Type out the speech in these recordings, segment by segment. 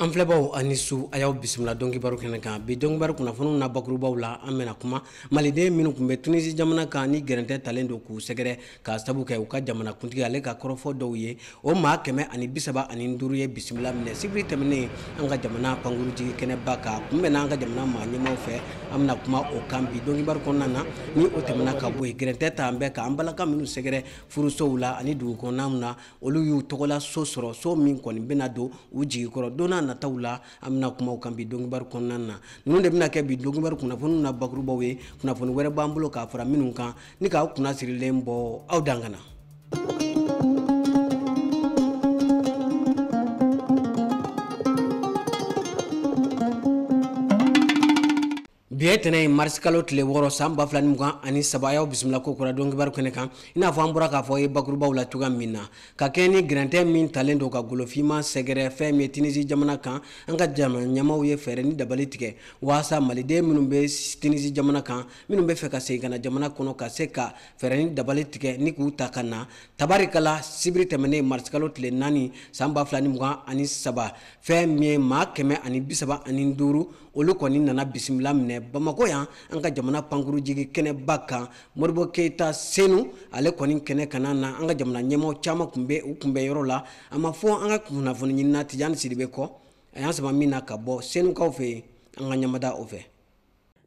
an filɛbaw aw ni su a y'aw bisimila don kibaru kɛnɛ kan bi don kibaru kunnafoniw na bakurubaw la an bɛna kuma maliden minnu kun bɛ tunisi jamana kan ni gɛrɛntɛ talen don k'u sɛgɛrɛ k'a sabu kɛ u ka jamanakuntigi ale ka kɔrɔfɔ dɔw ye o maa kɛmɛ ani bisaba ani duuru ye bisimila minɛ sibiri tɛmɛnen an ka jamana pankurujigi kɛnɛba kan kunbɛnna an ka jamana maa ɲɛmaw fɛ an bɛna kuma o kan bi don kibaru kɔnɔna na ni o tɛmɛna ka bɔ yen gɛrɛntɛ talen bɛ ka an balaka minnu sɛgɛrɛ furusow la ani dugu kɔnɔnaw na olu y'u tɔgɔla so sɔrɔ so min kɔni bɛna don u jigi kɔrɔ don nataw la an bɛna kuma o kan bi don kibaru kɔnɔna na ninnu de bɛna kɛ bi don kibaru kunnafoniw na bakurubaw ye kunnafoni wɛrɛ b'an bolo ka fara minnu kan ni k'aw kunna sirilen bɔ aw dan kana bi ye tɛnɛn ye marisikalo tile wɔɔrɔ san ba fila ni mugan ani saba a y'aw bisimila kokura don kibaru kɛnɛ kan i n'a fɔ an bɔra k'a fɔ ye bakurubaw la cogoya min na ka kɛɲɛ ni gɛrɛntɛ min talen don ka golofinma sɛgɛrɛ fɛn min ye tinisi jamana kan an ka jamana ɲɛmaw ye fɛɛrɛ ni dabali tigɛ waasa maliden minnu bɛ tinisi jamana kan minnu bɛ fɛ ka segin ka na jamana kɔnɔ ka se ka fɛɛrɛ ni dabali tigɛ ni k'u ta ka na tabarikala sibiri tɛmɛnen marisikalo tile naani san ba fila ni mugan ani saba fɛn min ye maa kɛmɛ ani bisaba ani duuru olu kɔni nana bisimila minɛ bamakɔ yan an ka jamana pankuru jigi kɛnɛba kan modibo keyita senu ale kɔni kɛnɛ kanna na an ka jamana ɲɛmɔgɔ caman kun bɛ u kunbɛn yɔrɔ la an b'a fɔ an ka kunnafoni ɲinina tijani sidibe kɔ a y'an sama min na ka bɔ senukaw fɛ yen an ka ɲɛmada o fɛ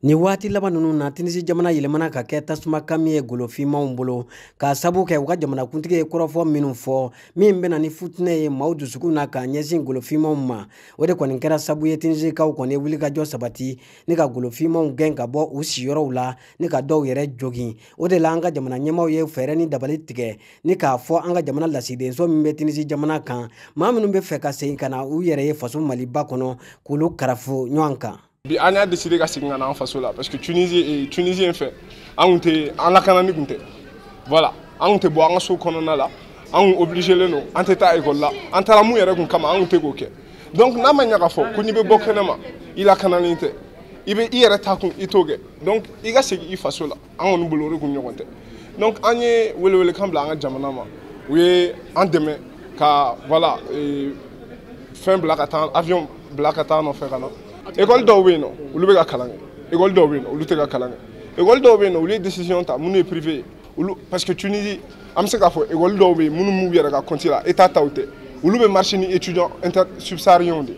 Nin waati laban ninnu na Tinizi jamana yɛlɛmana ka kɛ tasuma kami ye golofinmaw bolo k'a sabu kɛ u ka jamanakuntigi ye kɔrɔfɔ minnu fɔ min bɛna ni funteni ye maaw dusukun na k'a ɲɛsin golofinmaw ma o de kɔni kɛra sabu ye Tinizikaw kɔni ye wulikajɔ sabati ni ka golofinmaw gɛn ka bɔ u siyɔrɔw la ni ka dɔw yɛrɛ jogin o de la an ka jamana ɲɛmaaw ye fɛɛrɛ ni dabali tigɛ ni k'a fɔ an ka jamana lasigidenso min bɛ Tinizi jamana kan maa minnu bɛ fɛ ka segin ka na u yɛrɛ ye faso Maliba kɔnɔ k'olu karafo ɲɔgɔn kan bi an y'a décidé ka segin ka na an faso la parce que tunisien fɛ an kun tɛ an lakananin kun tɛ voilà an kun tɛ bɔ an ka so kɔnɔna la an kun obligelen don an tɛ taa école la an taara mun yɛrɛ kun kama an kun tɛ k'o kɛ donc n'a ma ɲa k'a fɔ ko n'i bɛ bɔ kɛnɛma i lakanalen tɛ i bɛ i yɛrɛ taa kun i t'o kɛ donc i ka segin i faso la an kɔni bolo o de kun ɲɔgɔn tɛ donc an ye welewelekan bila an ka jamana ma u ye an dɛmɛ ka voilà e, fɛn bila ka taa avion bila ka t'an nɔfɛ ka na école dɔw bɛ yen nɔ olu bɛ ka kalan kɛ école dɔw bɛ yen nɔ olu tɛ ka kalan kɛ école dɔw bɛ yen nɔ olu ye décision ta minnu ye privé ye olu parce que Tunisie an bɛ se k'a fɔ école dɔw bɛ yen minnu b'u yɛrɛ ka compte la état taw tɛ olu bɛ marché ni étudiants inter subsahariens de ye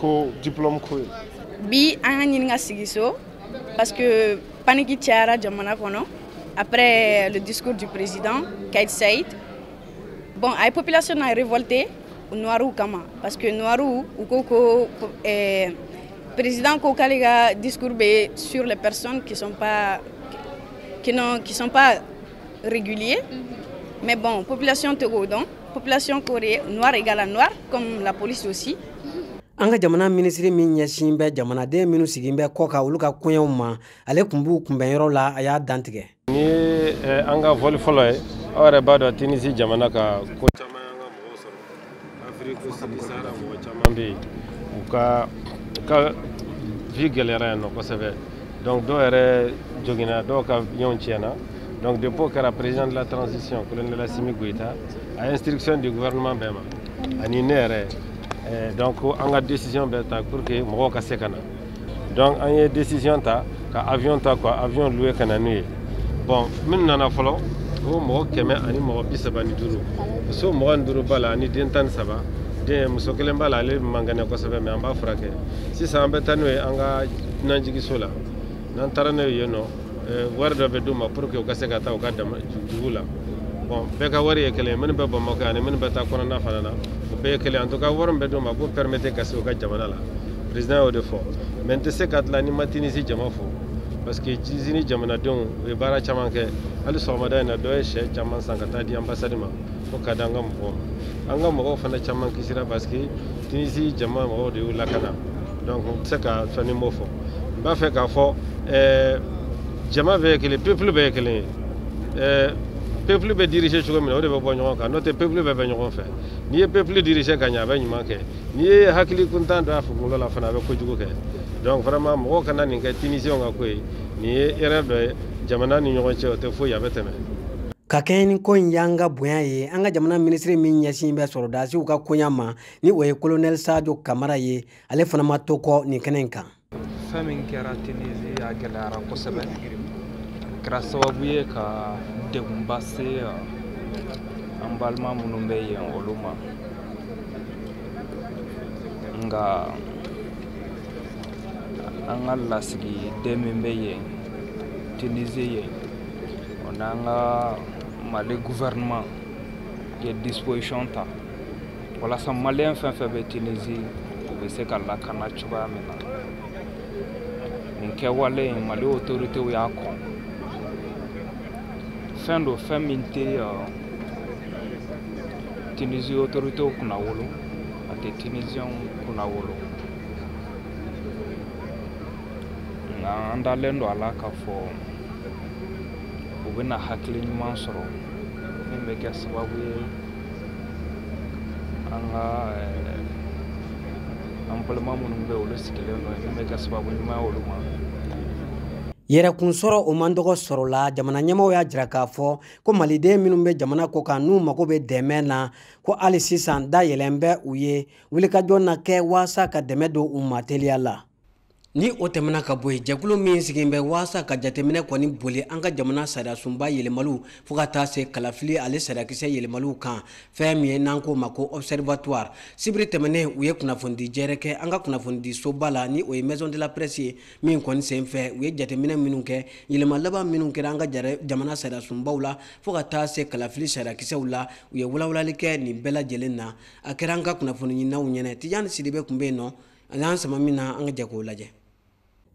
ko diplôme ko ye bi an y'a ɲini ka sigi so parce que paniki cayara jamana kɔnɔ après le discours du président Kaïs Saïed bon a ye population na révolté noirw kama parce que noirw u ko ko eh, président ko k'ale ka discours bɛ sur les personnes qui sont pas qui n'ont qui sont pas régulier mhm. mais bon population t'o ko dɔn population corée noir égale à noir comme la police aussi an ka jamana minisiri min ɲɛsin bɛ jamanaden minnu sigin bɛ kɔkan olu ka koɲɛw ma ale tun b'u kunbɛn yɔrɔ la a y'a dantigɛ nin ye eh, an ka voli fɔlɔ ye aw yɛrɛ b'a dɔn tinisi jamana ka ko caman afiriki sud sahara mɔgɔ caman bɛ yen u ka u ka vie gɛlɛyara yan nɔ kosɛbɛ donc dɔw yɛrɛ joginna dɔw ka yɔrɔw tiɲɛna donc depuis o kɛra président de la transition colonel asimi goyita a instruction di gouvernement bɛɛ ma ani ne yɛrɛ eh, donc an ka décision bɛɛ ta pour que mɔgɔw ka se ka na donc an ye décision ta ka avion ta ka avion louer ka na n'u ye bon min nana fɔlɔ o mɔgɔ kɛmɛ ani mɔgɔ bi saba ni duuru muso mugan ni duuru b'a la ani den tan ni saba denmuso kelen b'a la ale man kɛnɛ kosɛbɛ mais an b'a furakɛ sisan an bɛ taa n'u ye an ka dunanjigiso la n'an taara n'u ye yen nɔ eh, wari dɔ bɛ d'u ma pour que u ka se ka taa u ka dugu la bon bɛɛ ka wari ye kelen ye minnu bɛ bamakɔ ani minnu bɛ taa kɔnɔna fana na u bɛɛ ye kelen en tout cas wari min bɛ d'u ma k'u permettre ka se u ka jamana la président y'o de fɔ mais n tɛ se ka tila ni n ma tinisi jama fo parce que tinisi jamanadenw u ye baara caman kɛ hali sɔgɔmada in na dɔ ye sɛ caman san ka taa di anbasadi ma ko ka di an ka mɔgɔw ma an ka mɔgɔw fana caman kisira parce que tinisi jama mɔgɔw de y'u lakana donc n tɛ se ka fɛn ni n m'o fɔ n b'a fɛ k'a fɔ eh, jama bɛɛ ye kelen pepulu bɛɛ ye kelen ye eh, pepulu bɛ dirige cogo min na o de bɛ bɔ ɲɔgɔn kan n'o tɛ pepulu bɛɛ bɛ ɲɔgɔn fɛ n'i ye pepulu dirige ka ɲɛ a bɛ ɲuman kɛ n'i ye hakili kuntan don a kunkolo la fana a bɛ kojugu kɛ donc vraiment mɔgɔw kana nin kɛ tunisienw ka ko ye nin ye erreur dɔ ye jamana ni ɲɔgɔn cɛ o tɛ foyi a bɛ tɛmɛ ka kɛɲɛ ni ko in y'an ka bonya ye an ka jamana minisiri min ɲɛsin bɛ sɔrɔdasiw ka koɲa ma ni o ye kolonɛli sajo kamara ye ale fana ma to kɔ nin kɛnɛ in kan fɛn min kɛra tinizi a gɛlɛyara kosɛbɛ kɛra sababu ye ka degunba se an balima minnu bɛ yen olu ma nka an ka lasigiden min bɛ yen tinizi yen o n'an ka mali gouvernement ye disposition ta walasa maliyɛn fɛn fɛn bɛ tunizi u bɛ se ka lakana cogoya min na nin kɛwale in mali otoritew y'a kɔn fɛn don fɛn min tɛ tunizi otoritew kunnawolo a tɛ tuniziyɛnw kunnawolo nka an dalen don a la k'a fɔ u bɛna hakili ɲuman sɔrɔ min bɛ kɛ sababu ye an ka an balima minnu bɛ olu sigilen don min bɛ kɛ sababu ɲuman ye olu ma yɛrɛkunsɔrɔ o man dɔgɔ sɔrɔ la jamana ɲɛmɔgɔw y'a jira k'a fɔ ko maliden minnu bɛ jamana kɔkan n'u mago bɛ dɛmɛ na ko hali sisan da yɛlɛn bɛ u ye wulikajɔ na kɛ waasa ka dɛmɛ don u ma teliya la Ni o tɛmɛna ka bɔ yen, jɛkulu min sigilen bɛ waasa ka jateminɛ kɔni boli an ka jamana sariyasunba yɛlɛmaliw fo ka taa se kalafili ale sariyakisɛ yɛlɛmaliw kan, fɛn min ye n'an k'o ma ko observatoire. Sibiri tɛmɛnen, u ye kunnafonidi jɛrɛ kɛ an ka kunnafonidi soba la, ni o ye maison de la presse ye, min kɔni sen fɛ, u ye jateminɛ minnu kɛ, yɛlɛma laban minnu kɛra an ka jamana sariyasunbaw la fo ka taa se kalafili sariyakisɛw la, u ye walawalali kɛ nin bɛɛ lajɛlen na. A kɛra an ka kunnafoniɲininaw ɲɛnɛ, Tijani Sidibe kun bɛ yen nɔ. a y'an sama min na an ka jɛ k'o lajɛ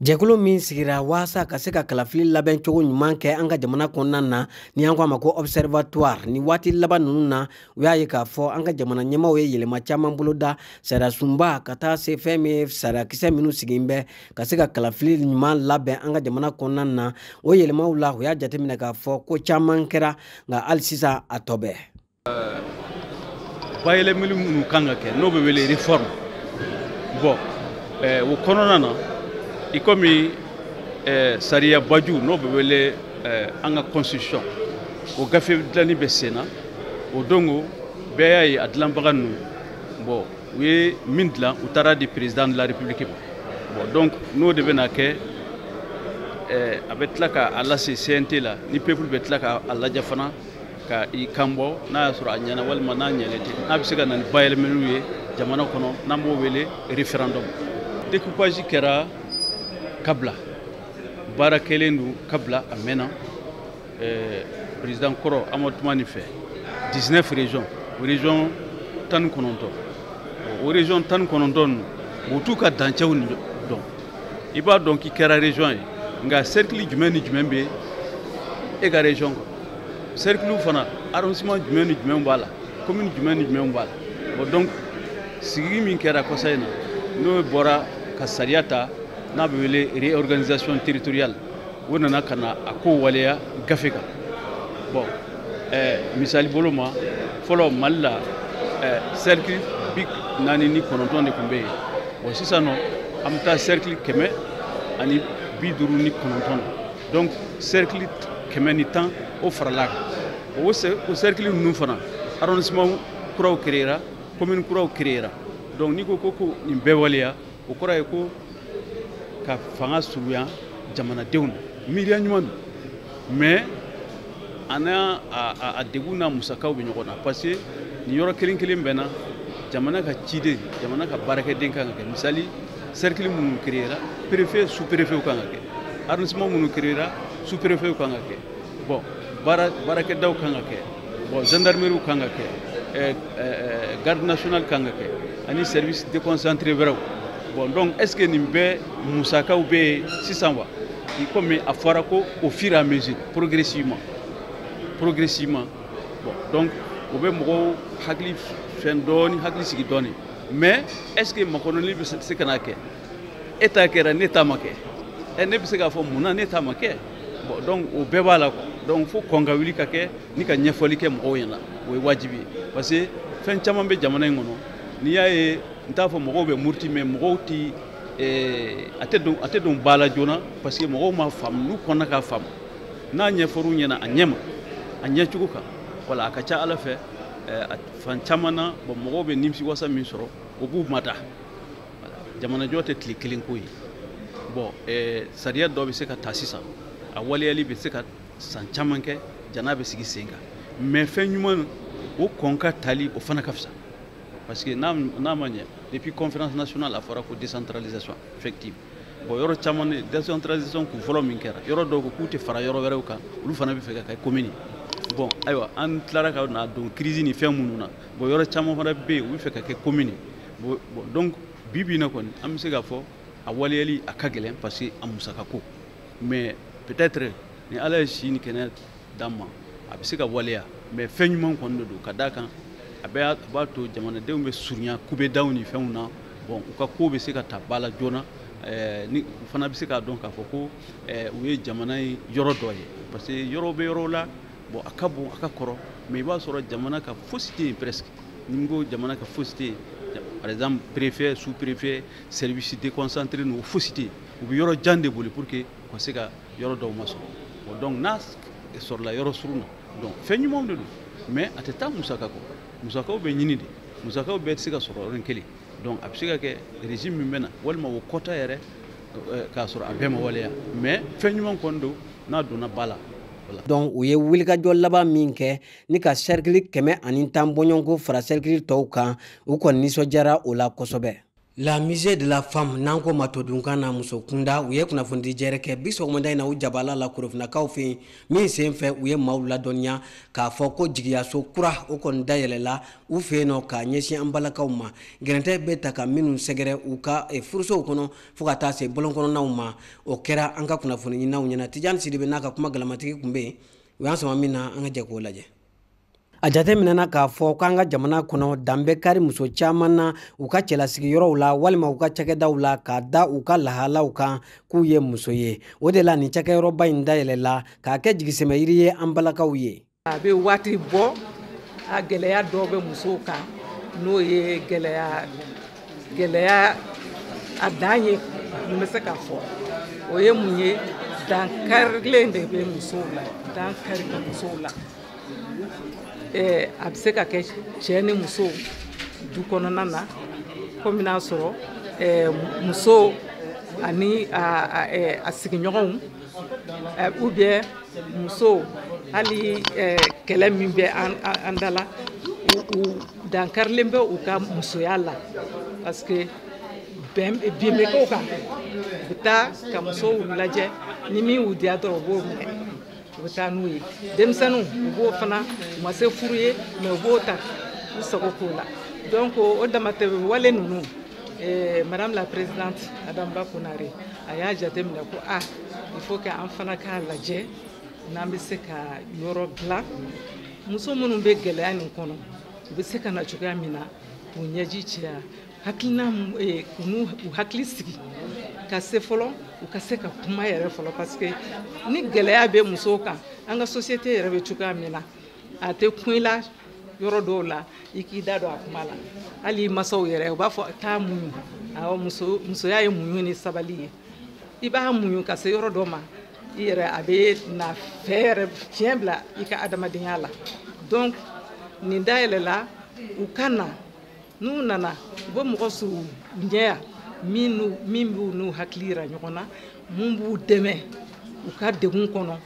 jɛkulu min sigira waasa ka se ka kalafili labɛn cogo ɲuman kɛ an ka jamana kɔnɔna na ni an ko a ma ko observatoire nin waati laban ninnu na u y'a ye k'a fɔ an ka jamana ɲɛmaaw ye yɛlɛma caman boloda sariyasunba ka taa se fɛn min ye sariyakisɛ minnu sigin bɛ ka se ka kalafili ɲuman labɛn an ka jamana kɔnɔna na o yɛlɛmaw la u y'a jateminɛ k'a fɔ ko caman kɛra nka hali sisan a tɔ bɛ Euh, bayɛlɛmali minnu kan ka kɛ n'o bɛ wele réforme bon eh, o kɔnɔna na i komi eh, sariya baju n'o bɛ wele eh, an ka constitution o gafe dilanni bɛ sen na o donko bɛɛ y'a ye a dilanbaga ninnu bon u ye min dilan u taar'a di président de la république ma bon donc n'o de bɛna kɛ a bɛ tila ka a lase cnt la ni peuple bɛ tila ka a lajɛ fana ka i kan bɔ n'a y'a sɔrɔ a ɲɛna walima n'a ɲɛlen tɛ n'a bɛ se ka na ni bayɛlɛmaliw ye jamana kɔnɔ n'an b'o wele référendum découpage kɛra kabila baara kɛlen don kabila a mɛnna eh, président kɔrɔ amadu tumani fɛ 19 région o région tan ni kɔnɔntɔn o région tan ni kɔnɔntɔn ninnu o t'u ka dancɛw dɔn i b'a dɔn k'i kɛra région ye nka cercle jumɛn ni jumɛn bɛ e ka région kɔnɔ cercle fana arrondissement jumɛn ni jumɛn b'a la commune jumɛn ni jumɛn b'a la bon donc sigigi min kɛra kɔsa in na n'o bɔra ka sariya ta n'a bɛ wele réorganisation territoriale o nana ka na a ko waleya gafe kan bon eh, misali bolo ma fɔlɔ mali la eh, cercle bi naani ni kɔnɔntɔn de tun bɛ yen bon sisan nɔ an bɛ taa cercle kɛmɛ ani bi duuru ni kɔnɔntɔn na donc cercle kɛmɛ ni tan o faral'a kan o cercle ninnu fana arrondissement kuraw créera commune kuraw créera donc n'i ko ko ko nin bɛɛ waleya o kɔrɔ ye ko ka fanga surunya jamanadenw na miiriya ɲuman don mais a n'a a degun n'a musakaw bɛ ɲɔgɔn na parce que nin yɔrɔ kelen kelen bɛɛ na jamana ka ciden jamana ka baarakɛden kan ka kɛ misali cercle minnu créera préfet sous préfet kan ka kɛ arrondissement minnu créera sous préfet kan ka kɛ bon baara baarakɛdaw kan ka kɛ bon gendarmerie kan ka kɛ eh, eh, garde nationale kan ka kɛ ani service déconcentré wɛrɛw bon donc est ce que nin bɛɛ musakaw bɛ yen sisan wa i komi a fɔra ko au fur et à mesure progressivement progressivement bon donc o bɛ mɔgɔw hakili fɛn dɔɔni hakili sigi dɔɔni mais est ce que makɔnɔni bɛ se ka na kɛ e ta kɛra ne ta ma kɛ ɛ ne bɛ se k'a fɔ mun na ne ta ma kɛ bon donc o bɛɛ b'a la quoi donc fo kɔn ka wuli ka kɛ ni ka ɲɛfɔli kɛ mɔgɔw ɲɛna o ye wajibi ye parce que fɛn caman bɛ jamana in kɔnɔ n'i y'a ye n t'a fɔ mɔgɔw bɛ muruti mais mɔgɔw ti a tɛ don a tɛ don ba la joona parce que mɔgɔw m'a faamu n'u kɔnna k'a faamu n'a ɲɛfɔr'u ɲɛna a ɲɛma a ɲɛcogo kan voilà a ka ca a la fɛ a fan caman na bon mɔgɔw bɛ nimisiwasa min sɔrɔ o b'u mada jamanajɔ tɛ tile kelen ko ye bon sariya dɔ bɛ se ka ta sisan a waleyali bɛ se ka san caman kɛ jan'a bɛ sigi sen kan mais fɛn ɲuman o kɔn ka tali o fana ka fisa parce que n'a ma ɲinɛ depuis conférence nationale a fɔra ko décentralisation effective bon yɔrɔ caman de décentralisation kun fɔlɔ min kɛra yɔrɔ dɔw ko k'u tɛ fara yɔrɔ wɛrɛw kan olu fana bɛ fɛ ka kɛ commune bon ayiwa an tilara ka na don crise ni fɛn minnu na bon yɔrɔ caman fana bɛ yen u bɛ fɛ ka kɛ commune bon donc bi bi in na kɔni an bɛ se k'a fɔ a waleyali a ka gɛlɛn parce que a musaka ko mais peut-être ni ala ye si ni kɛnɛya d'an ma a bɛ se ka waleya mais fɛn ɲuman kɔni de don ka d'a kan a bɛ b'a to jamanadenw bɛ surunya kubedaw ni fɛnw na bon u ka ko bɛ se ka ta ba la joona eh, ni u fana bɛ se k'a dɔn k'a fɔ ko eh, u ye jamana in yɔrɔ dɔ ye parce que yɔrɔ bɛ yɔrɔw la bon a ka bon a ka kɔrɔ mais i b'a sɔrɔ jamana ka fosi tɛ yen presque ni n ko jamana ka fosi tɛ yen par exemple préfet sous préfet service déconcentré ninnu fosi tɛ yen u bɛ yɔrɔ jan de boli pour que u ka se ka yɔrɔ dɔw masɔrɔ bon donc n'a sɔrɔla yɔrɔ surun na donc fɛn ɲumanw de don mais a tɛ taa musaka kɔ musakaw bɛ ɲini de musakaw bɛɛ tɛ se ka sɔrɔ yɔrɔnin kelen donc a bɛ se ka kɛ régime min bɛ na walima o ka taa yɛrɛ euh, k'a sɔrɔ a bɛɛ ma waleya mais fɛn ɲuman kɔni don n'a donna ba la donc u ye wulikajɔ laban min kɛ ni ka sɛrikili kɛmɛ ani tan bɔɲɔgɔnko fara sɛrikili tɔw kan u kɔni nisɔndiyara o la kosɛbɛ La musée de la femme n'an k'o ma todunkan na muso kunda u ye kunnafonidi jɛrɛ kɛ bi sɔgɔmada in na u jabala la korofinakaw fɛ yen min sen fɛ u ye maaw ladɔnniya k'a fɔ ko jigiyaso kura o kɔni dayɛlɛla u fɛ yen nɔ k'a ɲɛsin an balakaw ma gɛrɛntɛ bɛ taa ka minnu sɛgɛrɛ u ka eh, furusow kɔnɔ fo ka taa se bɔlɔn kɔnɔnaw ma o kɛra an ka kunnafoni ɲininaw ɲɛna tijani sidibe n'a ka kuma galamatigi tun bɛ yen u y'an sama min na an ka jɛ k'o lajɛ a jateminɛna k'a fɔ k'an ka jamana kɔnɔ dan bɛ kari muso caman na u ka cɛlasigiyɔrɔw la walima u ka cakɛdaw la k'a da u ka lahalaw kan k'u ye muso ye o de la nin cakɛyɔrɔba in dayɛlɛla k'a kɛ jigisɛmɛyiri ye an balakaw ye a bɛ waati bɔ a gɛlɛya dɔw bɛ musow kan n'o ye gɛlɛya gɛlɛya a dan ye mun bɛ se ka fɔ o ye mun ye dankarilen de bɛ musow la dankari bɛ musow la a bɛ se ka kɛ cɛ ni muso du kɔnɔna na komi n'a sɔrɔ muso ani a sigiɲɔgɔnw ou bien muso hali kɛlɛ min bɛ an da la dankarilen bɛ u ka musoya la parce que bɛn bin bɛ k'u kan u bɛ taa ka musow lajɛ ni min y'u diya dɔrɔn u b'o minɛ u bɛ taa n'u ye denmisɛnninw u b'o fana u ma se furu ye mais u b'o ta u sago k'o la donc o damatɛmɛ wale ninnu eh, madame la présidente adam ba konare a y'a jateminɛ ko a ah, il faut que an fana k'a lajɛ n'an bɛ se ka yɔrɔ dilan muso minnu bɛ gɛlɛya nin kɔnɔ u bɛ se ka na cogoya min na k'u ɲɛji cɛ yan hakilina eh, u n'u u hakili sigi ka se fɔlɔ u ka se ka kuma yɛrɛ fɔlɔ parce que ni gɛlɛya bɛ musow kan an ka société yɛrɛ bɛ cogoya min na a tɛ kun i la yɔrɔ dɔw la i k'i da don a kuma la hali i masaw yɛrɛ u b'a fɔ taa muɲu awɔ muso musoya ye muɲu ni sabali ye i b'a muɲu ka se yɔrɔ dɔ ma i yɛrɛ a bɛ na fɛ yɛrɛ fiɲɛ bila i ka adamadenya la donc nin dayɛlɛla u ka na n'u nana u bɛ mɔgɔ sɔrɔ u ɲɛ yan min n'u min b'u n'u hakili yira ɲɔgɔn na min b'u dɛmɛ u ka degun kɔnɔ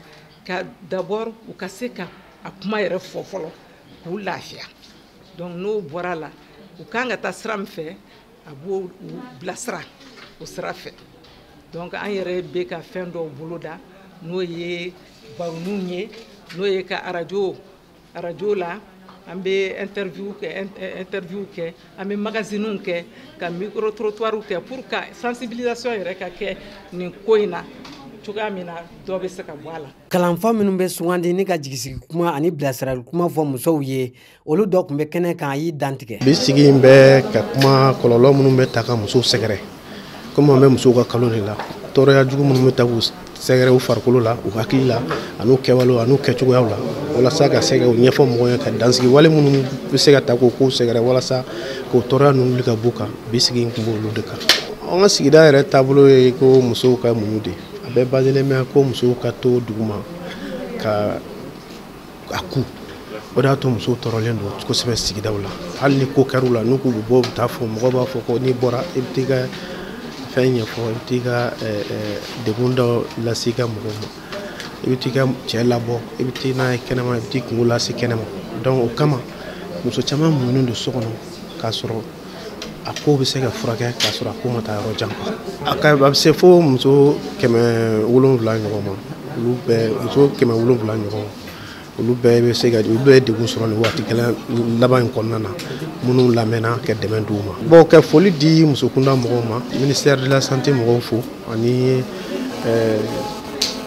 ka d'abord u ka se ka a kuma yɛrɛ fɔ fɔlɔ k'u lafiya donc n'o bɔra la u kan ka taa sira min fɛ a b'o bilasira o sira fɛ donc an yɛrɛ bɛ ka fɛn dɔw boloda n'o ye baroniw ye n'o ye ka arajo arajo la an bɛ interview kɛ an bɛ magaziniw kɛ ka micro trottoirs kɛ pour que sensibilisation yɛrɛ ka kɛ nin ko in na cogoya min na dɔ bɛ se ka bɔ a la. kalanfa minnu bɛ sugandi ni ka jigisigi kuma ani bilasirali kuma fɔ musow ye olu dɔ tun bɛ kɛnɛ kan a y'i dantigɛ bi sigi in bɛ ka kuma kɔlɔlɔ minnu bɛ ta ka musow sɛgɛrɛ komi an bɛ musow ka kalo de la tɔɔrɔya jugu minnu bɛ ta k'u sɛgɛrɛ u farikolo la u hakili la an'u kɛwalew an'u kɛcogoyaw la walasa ka se ka u ɲɛfɔ mɔgɔw ye ka dansigi wale minnu bɛ se ka ta k'o kow sɛgɛrɛ walasa k'o tɔɔrɔya ninnu wuli ka b'u kan bi sigi in tun b'olu de kan an ka sigida yɛrɛ taabolo ye ko musow ka muɲu de a bɛɛ baselen bɛ ko musow ka to duguma ka a kun o de y'a to musow tɔɔrɔlen don kosɛbɛ sigidaw la hali ni ko kɛr'u la n'u k'u bɛ bɔ u bɛ taa fɔ mɔgɔw b'a fɔ ko n'i bɔra i bɛ t'i ka fɛn ɲɛfɔ i bɛ t'i ka degun dɔ lase i ka mɔgɔw ma i bɛ t'i ka cɛ labɔ i bɛ t'i n'a ye kɛnɛma i bɛ t'i kunko lase kɛnɛma donc o kama muso caman muɲunen don so kɔnɔ k'a sɔrɔ a ko bɛ se ka furakɛ k'a sɔrɔ a ko ma taa yɔrɔ jan a ka a bɛ se fo muso kɛmɛ wolonwula ɲɔgɔn ma olu bɛɛ muso kɛmɛ wolonwula ɲɔgɔn olu bɛɛ bɛ se ka olu bɛɛ ye degun sɔrɔ nin waati gɛlɛn laban in kɔnɔna na minnu lamɛnna ka dɛmɛ d'u ma bon ka foli di musokunda mɔgɔw ma ministère de la santé mɔgɔw fo ani eh,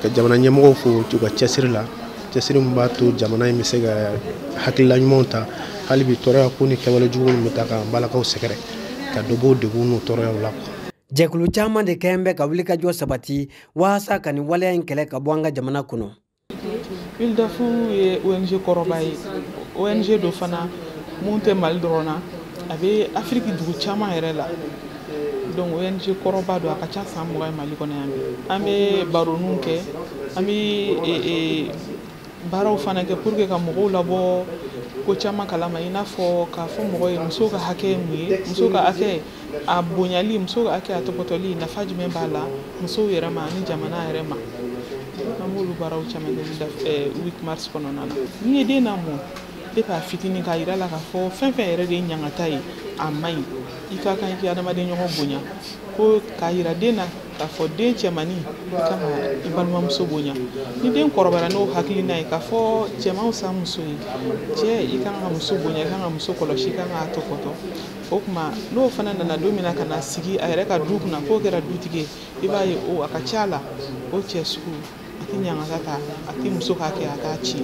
ka jamana ɲɛmɔgɔw fo u ka cɛsiri la cɛsiri min b'a to jamana in bɛ se ka hakilila ɲumanw ta hali bi tɔɔrɔya ko ni kɛwale jugu minnu bɛ ta ka balakaw sɛgɛrɛ ka dɔ b'o degun n'o tɔɔrɔyaw la jɛkulu caman de kɔni bɛ ka wulikajɔ sabati walasa ka nin waleya in kɛlɛ ka bɔ an ka jamana kɔnɔ WILDAF ye ONG kɔrɔba ye ONG don fana mun tɛ Mali dɔrɔn na a bɛ afiriki dugu caman yɛrɛ la donc ONG kɔrɔba don a ka ca san mugan ye mali kɔnɔ yan an bɛ baroniw kɛ an bɛ e, e, baaraw fana kɛ pour que ka mɔgɔw labɔ ko caman kalama i n'a fɔ k'a fɔ mɔgɔ ye musow ka hakɛ ye mun ye musow ka hakɛ a bonyali musow ka hakɛ a tɔpɔtɔli nafa jumɛn b'a la musow yɛrɛ ma ani jamana yɛrɛ ma an b'olu baaraw caman kɛ 8 mars kɔnɔna na n'i ye den lamɔ depuis a fitinin k'a yira la k'a fɔ fɛn fɛn yɛrɛ de ye ɲangata ye a man ɲi i ka kan i k'i adamaden ɲɔgɔn bonya ko k'a yira den na k'a fɔ den cɛmani i kan ka i balimamuso bonya ni den kɔrɔbayara n'o hakilina ye k'a fɔ cɛ man fisa muso ye cɛ i kan ka muso bonya i kan ka muso kɔlɔsi i kan k'a tɔpɔtɔ o tuma n'o fana nana don min na ka na sigi a yɛrɛ ka du kunna k'o kɛra dutigi ye i b'a ye o a ka ca a la o cɛ sugu a tɛ ɲangata ta a tɛ muso ka kɛ a t'a ci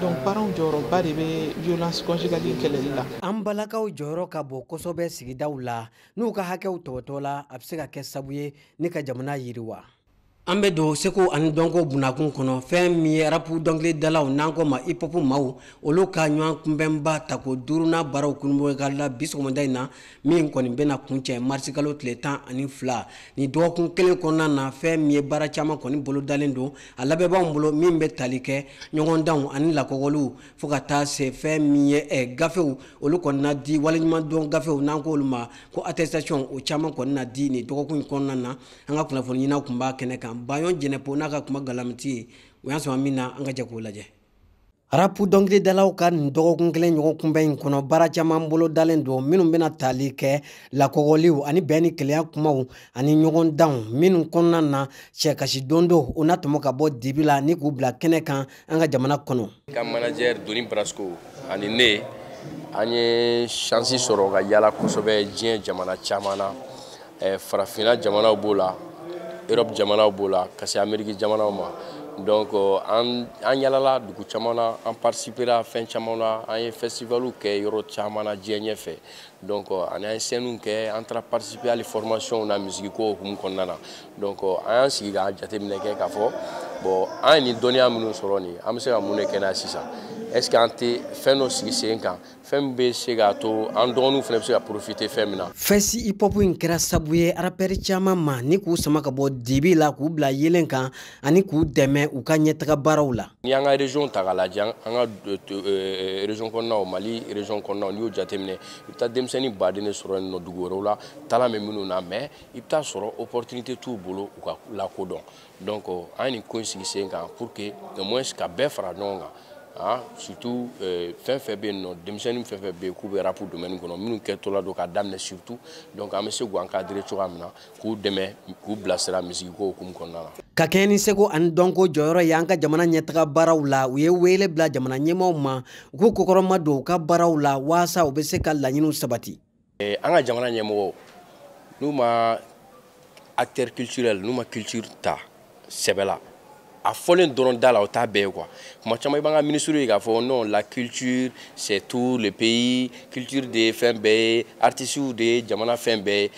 donc paranw jɔyɔrɔba de bɛ violence conjugale kɛlɛli la an balakaw jɔyɔrɔ ka bon kosɛbɛ sigidaw la n'u ka hakɛw tɔpɔtɔla a bɛ se ka kɛ sabu ye ni ka jamana yiriwa an bɛ don seko ani dɔnko bunakun kɔnɔ fɛn min ye arapu dɔnkilidalaw n'an k'o ma ipɔpu maaw olu ka ɲɔgɔn kunbɛnba tako duurunan baaraw kurunbonkarila bi sɔgɔmada in na min kɔni bɛna kuncɛ marisikalo tile tan ani fila ni dɔgɔkun kelen kɔnɔna na fɛn min ye baara caman kɔni bolodalen don a labɛnbaaw bolo min bɛ tali kɛ ɲɔgɔndanw ani lakɔgɔliw fo ka taa se fɛn min ye eh, gafew olu kɔni na di waleɲumandɔn gafew n'an ko olu ma ko attestation o caman kɔni na di nin dɔgɔkun in kɔnɔna na an ka kunnafoni ɲininaw kun b'a kɛnɛ kan bayon jɛnɛpo n'a ka kuma galamatigi ye o y'an sama min na an ka jɛ k'o lajɛ arapu dɔnkilidalaw ka nin dɔgɔkun kelen ɲɔgɔn kunbɛn in kɔnɔ baara caman bolo dalen don minnu bɛna tali kɛ lakɔgɔliw ani bɛn ni kelenya kumaw ani ɲɔgɔn danw minnu kɔnɔna na sɛkasi don dɔw na tɔmɔ ka bɔ dibi la ni k'u bila kɛnɛ kan an ka jamana kɔnɔ ka manager doni brasco ani ne an ye shansi sɔrɔ ka yala kosɛbɛ diɲɛ jamana caman na eh, farafinna jamanaw b'o la europe jamanaw b'o la ka se ameriki jamanaw ma donc euh, an an yalala dugu caman na an participera fɛn caman na an ye festivalw kɛ yɔrɔ caman na diɲɛ ɲɛfɛ donc euh, ani an ye sɛniw kɛ an taara participer hali formationw na misigiko hukumu kɔnɔna na donc euh, an y'an sigi k'a jateminɛ kɛ k'a fɔ bon an ye nin dɔnniya minnu sɔrɔ nin an bɛ se ka mun de kɛ n'a ye sisan est ce que an tɛ fɛn dɔ sigi sen kan fɛn min bɛ se k'a to an dɔgɔninw fana bɛ se ka porofite fɛn min na fɛsi ipɔpu in kɛra sabu ye arapɛri caman ma ni k'u sama ka bɔ dibi la k'u bila yelen kan ani k'u dɛmɛ u ka ɲɛtaga baaraw la n'i y'an ka région ta k'a lajɛ an ka euh, euh, région kɔnɔnaw mali région kɔnɔnaw n'i y'o jateminɛ i bɛ taa denmisɛnnin baden de sɔrɔ yen nɔ dugu wɛrɛw la talan bɛ minnu na mais i bɛ t'a sɔrɔ opportunité t'u bolo u ka lakodɔn donc an ye nin ko in sigi sen kan pour que au moins ka bɛɛ fara ɲɔgɔn kan ah surtout euh, fɛn fɛn bɛ yen nɔ denmisɛnnin fɛn fɛn bɛ yen k'u bɛ rapu domaine kɔnɔ minnu kɛtɔla don ka daminɛ surtout donc an bɛ se k'u encadrer cogoya min na k'u dɛmɛ k'u bilasira misigiko hukumu kɔnɔna la. ka kɛɲɛ ni seko ani dɔnko jɔyɔrɔ y'an ka jamana ɲɛtaga baaraw la u ye wele bila jamana ɲɛmaaw ma u k'u kɔkɔrɔmadon u ka baaraw la waasa u bɛ se ka laɲiniw sabati. eh, an ka jamana ɲɛmɔgɔw n'u ma acteur culturel n'u ma culture ta sɛbɛ la a fɔlen dɔrɔn da la o t'a bɛɛ ye quoi kuma caman i b'an ka minisiriw ye k'a fɔ non la culture c'est tout le pays culture de ye fɛn bɛɛ ye artisiw de ye jamana fɛn bɛɛ ye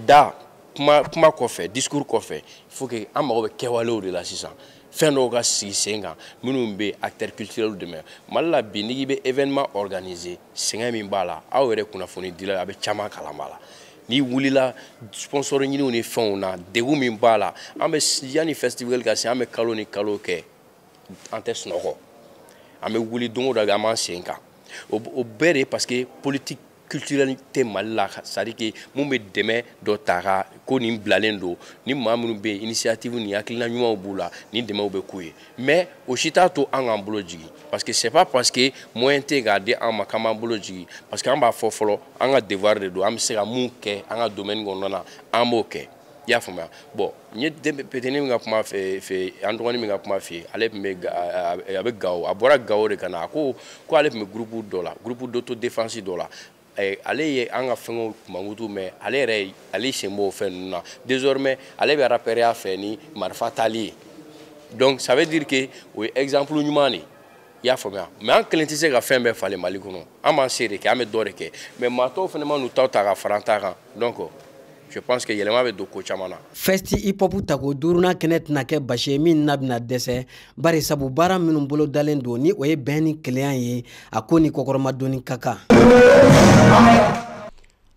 da kuma kɔfɛ discours kɔfɛ il faut que an mago bɛ kɛwalew de la sisan fɛn dɔw ka sigi sen kan minnu bɛ acteurs culturels dɛmɛ mali la bi n'i bɛ événement organiser sɛgɛn min b'a la aw yɛrɛ kunnafonidila a bɛ caman kalama a la n'i wulila sponsor ɲiniw ni fɛnw na degun min b'a la an bɛ yanni festival ka se an bɛ kalo ni kalo kɛ an tɛ sunɔgɔ an bɛ wuli don o don an b'an sen kan o bɛɛ de parce que politique culturelle tɛ mali la c'est à dire que mun bɛ dɛmɛ dɔ ta ka ko nin bilalen don ni maa minnu bɛ yen initiative ni hakilina ɲumanw b'u la nin dɛmɛw bɛ k'u ye mais o si t'a to an k'an bolo jigin parce que c'est pas parce que moyen tɛ k'a di an ma k'an b'an bolo jigin parce que an b'a fɔ fɔlɔ an ka devoir de don an bɛ se ka mun kɛ an ka domaine kɔnɔna na an b'o kɛ i y'a faamuya bon n ye petini min ka kuma fɔ an dɔgɔnin min ka kuma f'i ye ale tun bɛ a bɛ gawo a bɔra gawo de ka na a ko ko ale tun bɛ groupe dɔ la groupe d'autodéfense dɔ la Eh, ale ye an ka fɛngɛw mankutu mɛ ale yɛrɛ ale sen b'o fɛn ninnu na désormais ale bɛ rapɛrɛya fɛ ni marifa tali ye donc ça veut dire que o ye exemple ɲuman de ye i y'a faamuya mais an kelen tɛ se ka fɛn bɛɛ falen mali kɔnɔ an b'an se de kɛ an bɛ dɔ de kɛ mais maa tɔw fana man'u taw ta ka fara an ta kan donc je pense que yɛlɛma bɛ don ko caman na. fɛsti hip hop tako duurunan kɛnɛ tɛna kɛ basi ye min na bɛna dɛsɛ bari sabu baara minnu bolo dalen don ni o ye bɛn ni kelenya ye a ko ni kɔkɔrɔmadonni ka kan.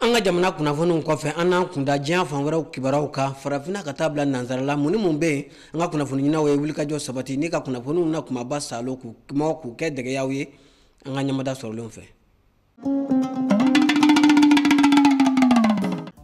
an ka jamana kunnafoniw kɔfɛ an n'an kunda diɲɛ fan wɛrɛw kibaruyaw kan farafinna ka taa bila nansarala mun ni mun bɛ yen an ka kunnafoni ɲininaw ye wulikajɔ sabati ni ka kunnafoniw na kunbaba saalo k'u mugu k'u kɛ dɛgɛ y'aw ye an ka ɲɛmada sɔrɔlenw fɛ.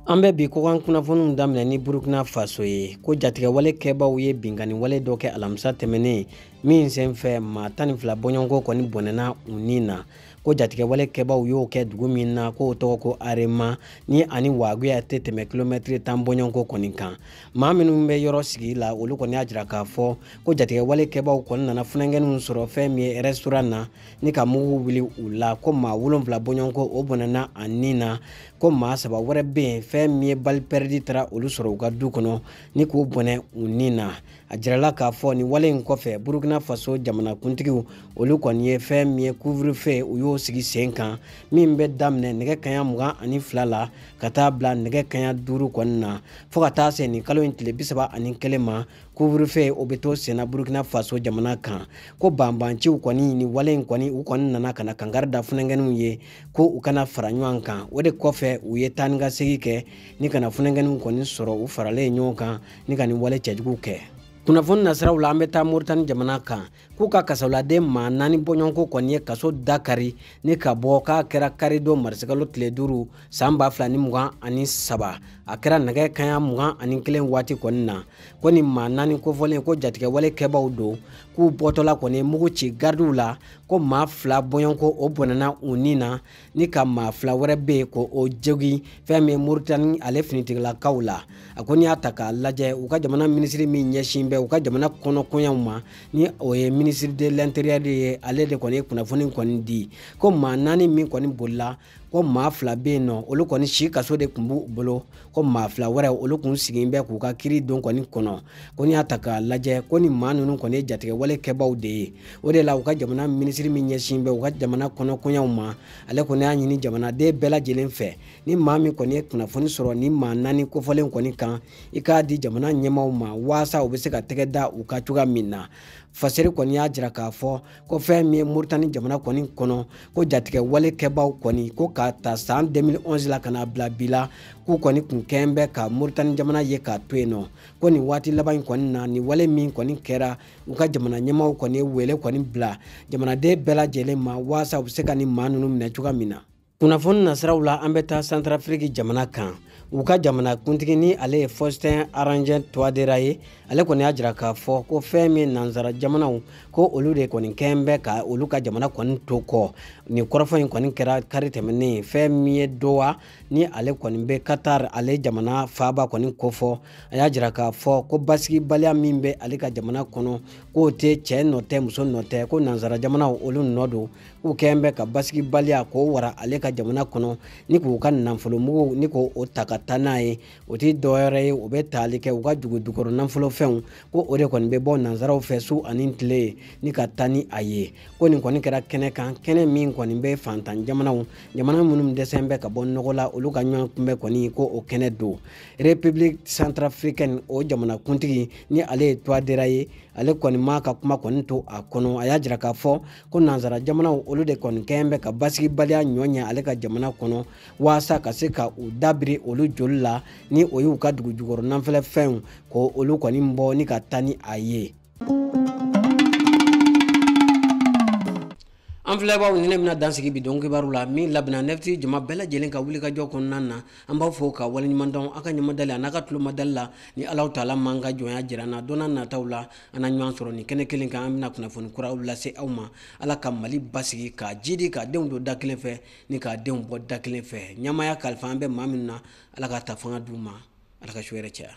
an bɛ bi kɔkan kunnafoniw daminɛ ni burukina faso ye ko jatigɛwale kɛbaaw ye binkanniwale dɔ kɛ alamisa tɛmɛnen min senfɛ maa tan ni fila bɔɲɔgɔnko kɔni bɔnɛna u ni na ko jatigɛwale kɛbaaw y'o kɛ dugu min na k'o tɔgɔ ko arema ni ani waguya tɛ tɛmɛ kilomɛtiri tan bɔɲɔgɔnko kɔni kan maa minnu bɛ yɔrɔ sigi la olu kɔni y'a jira k'a fɔ ko jatigɛwale kɛbaaw kɔni nana funankɛninw sɔrɔ fɛn min ye restaurant na ni ka mugu wuli u la ko maa wolonfila bɔɲɔgɔnko o bɔnɛna a ni na ko maa saba wɛrɛ bɛ yen fɛn min ye balle perdue taara olu sɔrɔ u ka du kɔnɔ ni k'o bɔnɛ u ni na a jirala k'a fɔ nin wale in kɔfɛ burukina faso jamanakuntigiw olu kɔni ye fɛn min ye couvre-feu u y'o sigi sen kan min bɛ daminɛ nɛgɛ kanɲɛ mugan ani fila la ka taa bila nɛgɛ kanɲɛ duuru kɔni na fo ka taa se nin kalo in tile bisaba ani kelen ma couvre-feu o bɛ to senna burukina faso jamana kan ko banbanciw kɔni nin wale in kɔni u kɔni nana ka na kankari da funankɛninw ye ko u kana fara ɲɔgɔn kan o de kɔfɛ u ye taa ni ka segi kɛ ni ka na funankɛninw kɔni sɔrɔ u faralen ɲɔgɔn kan ni ka nin wale cɛjugu kɛ kunnafoni nasiraw la an bɛ taa moritani jamana kan k'u ka kasoladen maa naani bɔɲɔgɔnko kɔni ye kaso da kari ni ka bɔ k'a kɛra karidon marisikalo tile duuru san ba fila ni mugan ani saba a kɛra nɛgɛ kanɲɛ mugan ani kelen waati kɔni na ko nin maa naani kofɔlen ko jatigɛwale kɛbaw don k'u bɔtɔla kɔni ye mugu ci garidiw la ko maa fila bɔɲɔgɔnko o bɔnɛna u ni na ni ka maa fila wɛrɛ bɛ yen ko o jogin fɛn min moritani ale finitigilakaw la a ko n'i y'a ta k'a lajɛ u ka jamana minisiri min ɲɛsin bɛ u ka jamana kɔnɔkoɲɛw ma ni o ye ministre de l'intérieur de ye ale de kɔni ye kunnafoni kɔni di ko maa naani min kɔni bolila ko maa fila bɛ yen nɔ olu kɔni si kaso de kun b'u bolo ko maa fila wɛrɛ olu kun sigin bɛ k'u ka kiiri don kɔni kɔnɔ ko n'i y'a ta k'a lajɛ ko ni maa ninnu kɔni ye jatigɛwale kɛbaw de ye o de la u ka jamana minisiri min ɲɛsin bɛ u ka jamana kɔnɔkoɲɛw ma ale kɔni y'a ɲini jamanaden bɛɛ lajɛlen fɛ ni maa min kɔni ye kunnafoni sɔrɔ ni maa naani kofɔlen kɔni kan i k'a di jamana ɲɛmaaw ma waasa u bɛ se ka tɛgɛ da u kan cogoya min na faseri kɔni y'a jira k'a fɔ ko fɛn min ye moritani jamana kɔni kɔnɔ ko jatigɛwale kɛbaaw kɔni ko ka ta san 2011 la ka na bila bi la k'u kɔni kun kɛn bɛ ka moritani jamana ye k'a to yen nɔ ko nin waati laban in kɔni na nin wale min kɔni kɛra u ka jamana ɲɛmaaw kɔni ye wele kɔni bila jamanaden bɛɛ lajɛlen ma waasa u bɛ se ka nin maa ninnu minɛ cogoya min na kunnafoni nasiraw la an bɛ taa santarafiriki jamana kan u ka jamana kuntigi ni ale ye faustin archange touadéra ye ale kɔni y'a jira k'a fɔ ko fɛn min nansara jamanaw ko olu de kɔni kɛn bɛ ka olu ka jamana kɔni to kɔ nin kɔrɔfɔ in kɔni kɛra kari tɛmɛnen fɛn min ye doha ni ale kɔni bɛ qatar ale jamana faaba kɔni kofɔ a y'a jira k'a fɔ ko basigibaliya min bɛ ale ka jamana kɔnɔ k'o tɛ cɛ nɔ tɛ muso nɔ tɛ ko nansara jamanaw olu nɔ don k'u kɛn bɛ ka basigibaliya k'o wara ale ka jamana kɔnɔ ni k'u ka nafolomuguw ni k'o ta ka taa n'a ye o tɛ dɔwɛrɛ ye o bɛ taali kɛ u ka dugu jukɔrɔ nafolofɛnw ko o de kɔni bɛ bɔ nansaraw fɛ su ani tile ni ka taa ni a ye ko nin kɔni kɛra kɛnɛ kan kɛnɛ min kɔni bɛ fantan jamanaw jamana minnu dɛsɛn bɛ ka bɔ nɔgɔ la olu ka ɲɔgɔnkunbɛn kɔni ko o kɛnɛ don république centrafricaine o jamanakuntigi ni ale ye touadéra ye ale kɔni m'a ka kuma kɔni to a kɔnɔ a y'a jira k'a fɔ ko nansara jamanaw olu de kɔni kɛn bɛ ka basigibaliya ɲɔ ɲɛ ale ka jamana kɔnɔ waasa ka se ka u da biri olu joli la ni o y'u ka dugu jukɔrɔ nafolofɛnw ko olu kɔni bɔ ni ka taa ni a ye an filɛbaaw ni ne bɛna dan sigi bi don kibaru la min labɛnna nɛfiti jama bɛɛ lajɛlen ka wulikajɔ kɔnɔna na an b'aw fo ka waleɲumandɔn aw ka ɲamadali an'a ka tulomadali la ni alahu taala m'an ka jɔnya jira an na don nataw la an na ɲɔgɔn sɔrɔ nin kɛnɛ kelen kan an bɛna kunnafoni kuraw lase aw ma ala ka mali basigi k'a jidi k'a denw don da kelen fɛ ni k'a denw bɔ da kelen fɛ ɲɛmaaya kalifalen bɛ maa minnu na ala k'a ta fanga d'u ma ala ka su hɛrɛ caya